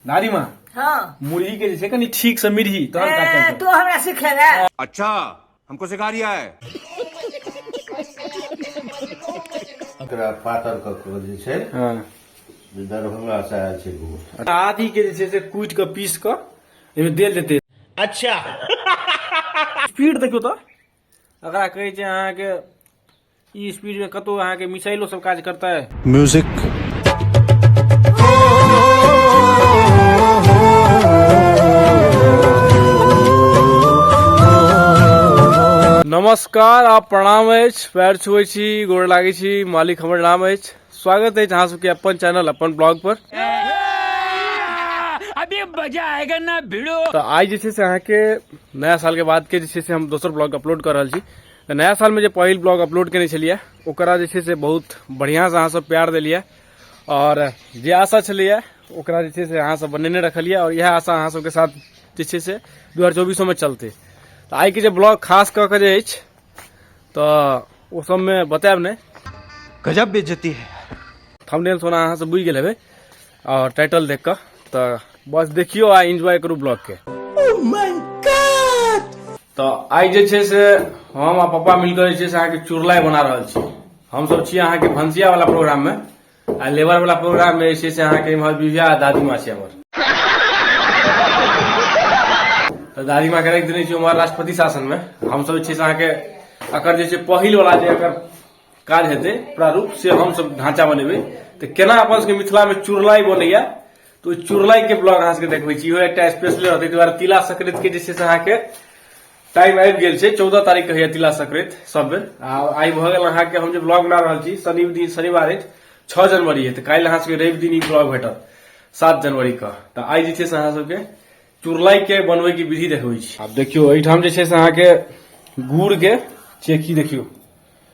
दादी माँ हाँ मुर्गी के जैसे कनी ठीक से मिर्ही तहन का ए, चलते तू हमरा सिखेगा अच्छा हमको सिखा रिया है एकरा पातर कऽ कऽ जे छै हाँ जे दरभंगा से आयल छै घूर आदि के जे छै से कूटि कऽ पीस कऽ एहिमे देल जेतै अच्छा स्पीड देखियौ तऽ एकरा कहै छै अहाँके ई स्पीडमे कतहु अहाँके मिसाइलो सब काज करतै म्यूजिक नमस्कार आप प्रणाम अछि पैर छुए छी गोड़ लागे छी मालिक हमर नाम अछि स्वागत अछि अहाँ सबके अपन चैनल अपन ब्लॉग पर अभी मजा आएगा ना भिड़ो तो आज जे से अहाँ के नया साल के बाद के जे से हम दोसर ब्लॉग अपलोड कर रहा तो नया साल में जो पहल ब्लॉग अपलोड करने छलिए ओकरा जे से बहुत बढ़िया से अहाँ सब प्यार दिलिए और जे आशा छलिए ओकरा जे से अहाँ सब बनेने रखलिए और यह आशा अहाँ सबके साथ जे से दू हजार चौबीसो में चलते तो आई के जो ब्लॉग खास कऽ के जे तऽ ओ सबमे बतायब नहि गजब बेजती है थंबनेल सोना अहाँ सब बुझि गेल हेबै आओर टाइटल देख कऽ तऽ बस देखियो आ एंजॉय करू ब्लॉग के तऽ आइ जे छै से हम आ पप्पा मिलकर जे छै से अहाँके चुरलाई बना रहल छी हमसब छी अहाँके भनसिया वाला प्रोग्राम मे आ लेबर वाला प्रोग्राम में ऐसे से अहाँ के इम्हर बीबिया आ दादी माँ छै हमर तो दादी माँ के रख देने छी हमार राष्ट्रपति शासन में हम सब छै से अहाँ के अकर जे छै पहिल वाला जे अकर काज हेतै प्रारूप से हम सब ढांचा बनेबै तो केना अपन सबके मिथिला में चुरलाई बनैया तो चुरलाई के ब्लॉग अहाँ सबके देखबै छी इहो एकटा स्पेशल रहतै ताहि दुआरे तिला संक्रांति के जे छै से अहाँ के टाइम आबि गेल छै चौदह तारीख के होइया तिला संक्रांति सब बेर आ आइ भऽ गेल अहाँके हम जे ब्लॉग बना रहल छी शनि दिन शनिवार अछि छओ जनवरी अछि तऽ काल्हि अहाँ सबके रवि दिन ई ब्लॉग भेटत सात जनवरी के तऽ आइ जे छै से अहाँ सबके चुरलाई के बनबै के विधि देखबै छी आब देखियौ एहिठाम जे छै से अहाँके गुड़ के चेकी देखियौ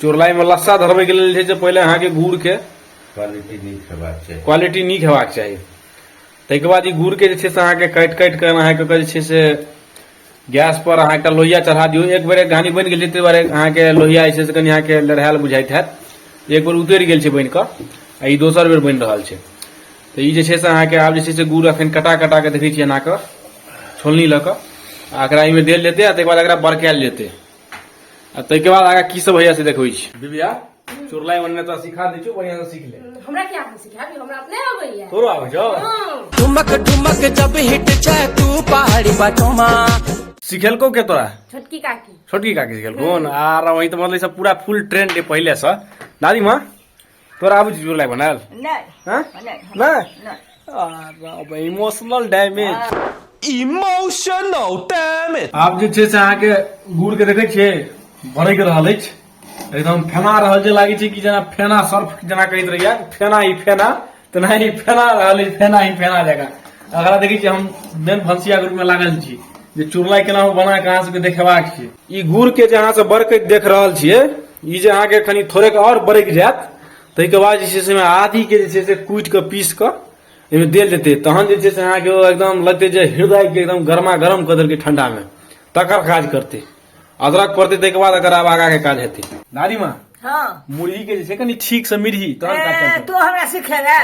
चोरलाई में लस्सा धरबे के लिए जे पहले अहाँ के गुड़ के क्वालिटी नहीं खेबाक चाहिए क्वालिटी नहीं खेबाक चाहिए तै के बाद ई गुड़ के जे छै से अहाँ के काट काट के अहाँ के जे छै से गैस पर अहाँ के लोहिया चढ़ा दियो एक बेर घानी बन गेल तै बारे अहाँ के लोहिया जे छै से कनी अहाँ के लड़ायल बुझाइत है एक बेर उतर गेल छै बन के आ ई दोसर बेर बन रहल छै तऽ ई जे छै से अहाँके आब जे छै से गुड़ अखन कटा कटा कऽ देखै छियै एनाकऽ छोलनी लऽ कऽ आ एकरा एहिमे देल जेतै आ ताहिके बाद एकरा बड़कायल जेतै आ ताहिके बाद आगाँ की सब होइया से देखबै छी दिव्या चुरलाई बनने तो सिखा दै छियौ बढ़िया से सीख ले हमरा क्या हम सिखा दी हमरा अपने आबै है तोरो आबै छौ हाँ। ठुमक ठुमक जब हिट छै तू पहाड़ी बटोमा सिखेलको के तोरा छोटकी काकी छोटकी काकी सिखेलको न आ रवि त मतलब ई सब पूरा फुल ट्रेंड है पहिले से दादी माँ तोरा आबू जी लाइक बनाल नहीं इमोशनल डैमेज इमोशनल डैमेज आप जे छे से अहाँ के गुड़ के देखे छे भड़क रहल अछि एकदम फेना रहल जे लागे छे कि जना फेना सर्फ जना कहत रहिया फेना ई फेना तेनाही फेना रहल अछि फेनाही फेना जकाँ अगला देखै छियै हम मेन भनसिया के रूपमे लागल छी जे चुरलाई केना हम बना कऽ अहाँ सबके देखेबाक छै ई गुड़ के जे अहाँ सब बरकैत देख रहल छियै ई जे अहाँके कनि थोड़ेक आओर बरकि जायत ताहिके बाद जे छै से आदि के जे छै से कूटि कऽ पीस कऽ एहिमे देल जेतै तहन जे छै से अहाँके ओ एकदम लगतै जे हृदय के एकदम गरमा गरम कऽ देलकै ठंडा मे तकर काज करतै अदरक पड़तै ताहिके बाद एकर आब आगाके काज हेतै दादी माँ हँ मुरही के जे छै कनि ठीक से मिरही तहन काज ए, चलतै तू हमरा सिखेला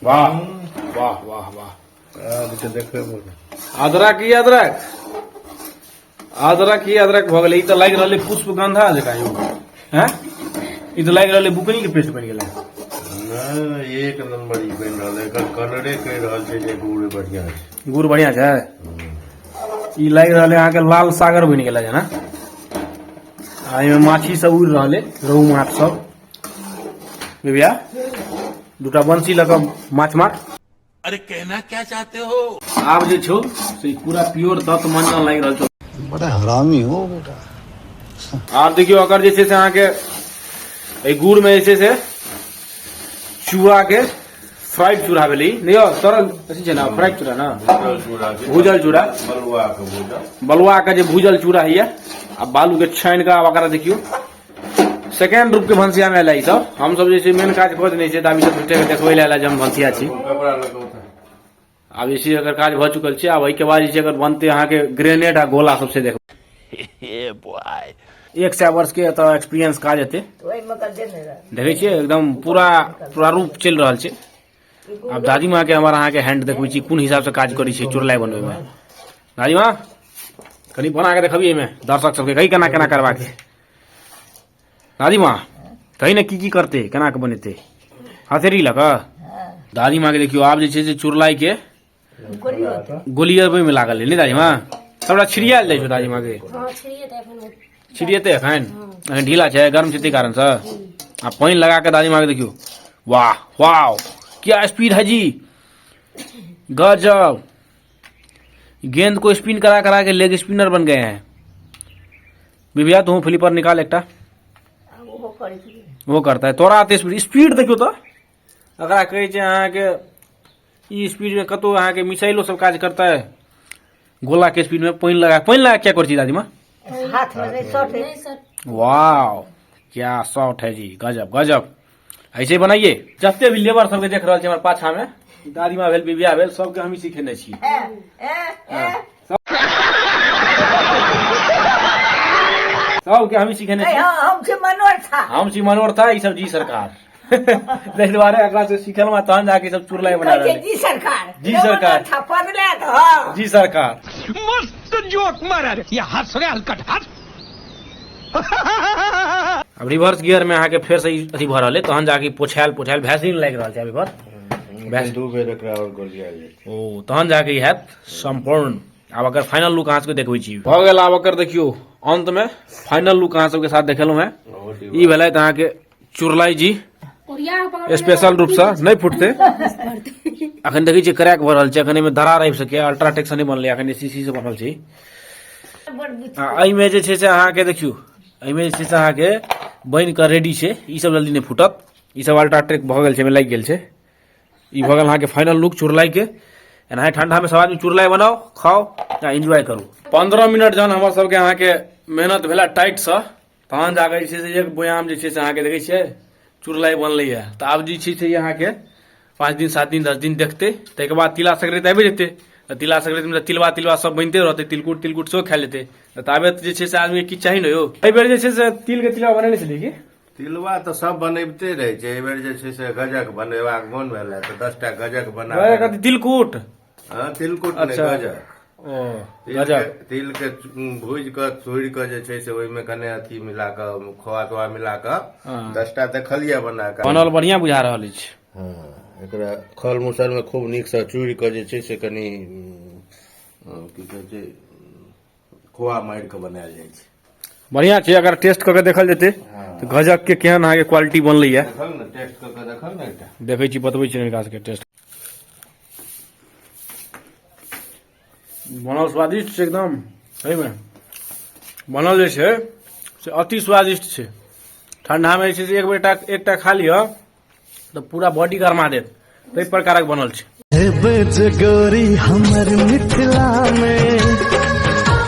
वाह वाह वाह वाह अदरक ई अदरक अदरक ही अदरक भऽ गेलै ई तऽ लागि रहलै पुष्पगंधा जकाँ यौ हैं ई तऽ लागि रहलै बुकनी के पेस्ट बनि गेलै नहि एक नंबर ई बनि रहल है एकर कलरे कहि रहल छै जे गुड़ बढ़िया छै गुड़ बढ़िया छै ई लागि रहलै अहाँके लाल सागर बनि गेलै जेना आ एहिमे माछी सब उड़ि रहलै रोहु माछ सब बेबिया दूटा बंसी लऽ कऽ माछ मार अरे कहना क्या चाहते हो आप जो छो से पूरा प्योर दत्त मंजन लाग रहल छो बड़ा हरामी हो बेटा आप देखियो अगर जैसे से अहाँ के ए गुड़ में जैसे से चूहा के फ्राइड चूड़ा भेली नहीं हो तरल अथी छै ना फ्राइड चूड़ा ना भूजल चूड़ा बलुआ के जे भूजल चूड़ा हिया आ बालू के छानि के आब एकरा देखियो सेकेंड रूप के भंसिया में एला ई सब हम सब जे छै मेन काज कऽ देने छियै तऽ आब ई सब झूठे के देखबै लए एला जे हम भंसिया छी कपड़ा लऽ कऽ उठा आब जे छै एकर काज भऽ चुकल छै आब एहिके बाद जे छै एकर बनतै अहाँके ग्रेनेड आ गोला सबसे देख एक सए वर्ष के एतऽ एक्सपीरियंस काज हेतै ओहिमे कऽ देने रहै देखै छियै एकदम पूरा प्रारूप चलि रहल छै आब दादी माँ के हमार अहाँ के हैंड देखबे छी कोन हिसाब से काज करे छी चुरलाई बनवे में दादी माँ कनी बना के देखबिए में दर्शक सबके कही केना केना करबा के दादी माँ कही ने की की करते केना के बनेते हथेरी लऽ कऽ दादी माँ के देखियो आब जे छै से चुरलाई के गोली होत गोली अबै में लागल है नहीं दादी माँ सबटा छिड़ियाल जाइ छौ दादी माँ के हाँ छिड़िए तऽ एखन ओ- छिड़ियेते एखन एखन ढीला छै गर्म छै तै कारण से आ पानि लगा के दादी माँ के देखियो वाह वाह क्या स्पीड है जी गजब गेंद को स्पिन करा करा के लेग स्पिनर बन गए हैं बिबिया तू फ्लिपर निकाल एकटा आब ओहो करै छी वो करता है तोरा आते स्पीड स्पीड देखियो तो एकरा कहै छै अहाँके ई स्पीडमे कतहु अहाँके मिसाइलो सब काज करतै गोलाके स्पीडमे पानि लगा पानि लगा क्या करै छी दादीमा वाह क्या शॉट है जी गजब गजब ऐसे बनाइए जते भी लेबर सबके देख रहल छी हमर पाछामे दादीमा भेल बिबिया भेल सबके हमही सिखेने छी सबके हमही सिखेने छी हम छी मनोहर था हम छी मनोहर था ई सब जी सरकार ताहि दुआरे एकरा से सिखलहुँ आ तहन जाके सब चुरलाई बना रहल जी सरकार जी सरकार हाँ। जी सरकार मस्त जोक मारा रे या हंस रे हलकट हंस अब रिवर्स गियर में अहाँके फेर से अथी भऽ रहल अइ तहन जाके पोछायल पोछायल भैसलिन लागि रहल छै अभी पर दू बेर एकरा आओर गोलिया ओ तहन जाके हैत सम्पूर्ण आब अगर फाइनल लुक अहाँ सबके देखबै छी भऽ गेल आब अगर देखियो अंत में फाइनल लुक अहाँ सबके साथ देखेलहुँ हैं ई भेलथि अहाँके चुरलाई जी स्पेशल रूप से नहीं फुटते अखन देखै छियै क्रैक भऽ रहल छै अखन एहिमे दरार आबि सकैए अल्ट्राटेक से नहि बनलै अखन सीसी से बनल छै एहिमे जे छै से अहाँके देखियौ एहिमे जे छै से अहाँके बनि कऽ रेडी छै ई सब जल्दी नहि फूटत ई सब अल्ट्राटेक भऽ गेल छै एहिमे लागि गेल छै ई भऽ गेल अहाँके फाइनल लुक चुरलाइके एनाहे ठंडामे सब आदमी चुरलाइ बनाउ खाउ आ एन्जॉय करू पंद्रह मिनट जहन हमर सबके अहाँके मेहनत भेला टाइटसँ तहन जाकऽ जे छै से एक बोयाम जे छै से अहाँके देखै छियै चुरलाइ बनलैए तऽ आब जे छै से अहाँके पाँच दिन सात दिन दस दिन देखतै ताहिके बाद तिला संक्रान्ति आबि जेतै तऽ तिला संक्रान्तिमे तऽ तिलवा तिलवा सब बनिते रहतै तिलकुट तिलकुट सेहो खाए लेतै तऽ ताबे जे छै से आदमी किछु चाही ने यौ एहि बेर जे छै से तिलके तिलवा बनेने छलियै की तिलवा तऽ सब बनैबते रहै छै एहि बेर जे छै से गजक बनेबाक मोन भेल है तऽ दसटा गजक बना गजक कथी तिलकुट हँ तिलकुट नहि अच्छा। गजक ओ तिल गजक के- तिल के भूजि कऽ तोड़ि कऽ जे छै से ओहिमे कने अथी मिला कऽ खोआ तोआ मिला कऽ हँ। दसटा देखलियै बना कऽ बनल बढ़िया बुझा रहल अछि हँ एकरा खल मुसलमे खूब नीकसँ चूड़ि कऽ जे छै से कनि उम, अ, की कहै छै खोआ मारि कऽ बनायल जाइ छै बढ़िया छै अगर टेस्ट कऽ के देखल जेतै तऽ गजक के केहन अहाँके क्वालिटी बनलैए देखल ने टेस्ट कऽ कऽ देखल ने एकटा देखै छी बतबै छी हिनका सबके टेस्ट बनल स्वादिष्ट छै एकदम सहीमे बनल जे छै से अति स्वादिष्ट छै ठण्डामे जे छै से एक बेर टा एकटा खा लिअ तऽ पूरा बॉडी गरमा देत ताहि प्रकारक बनल छै हे बज गोरी हमर मिथिला में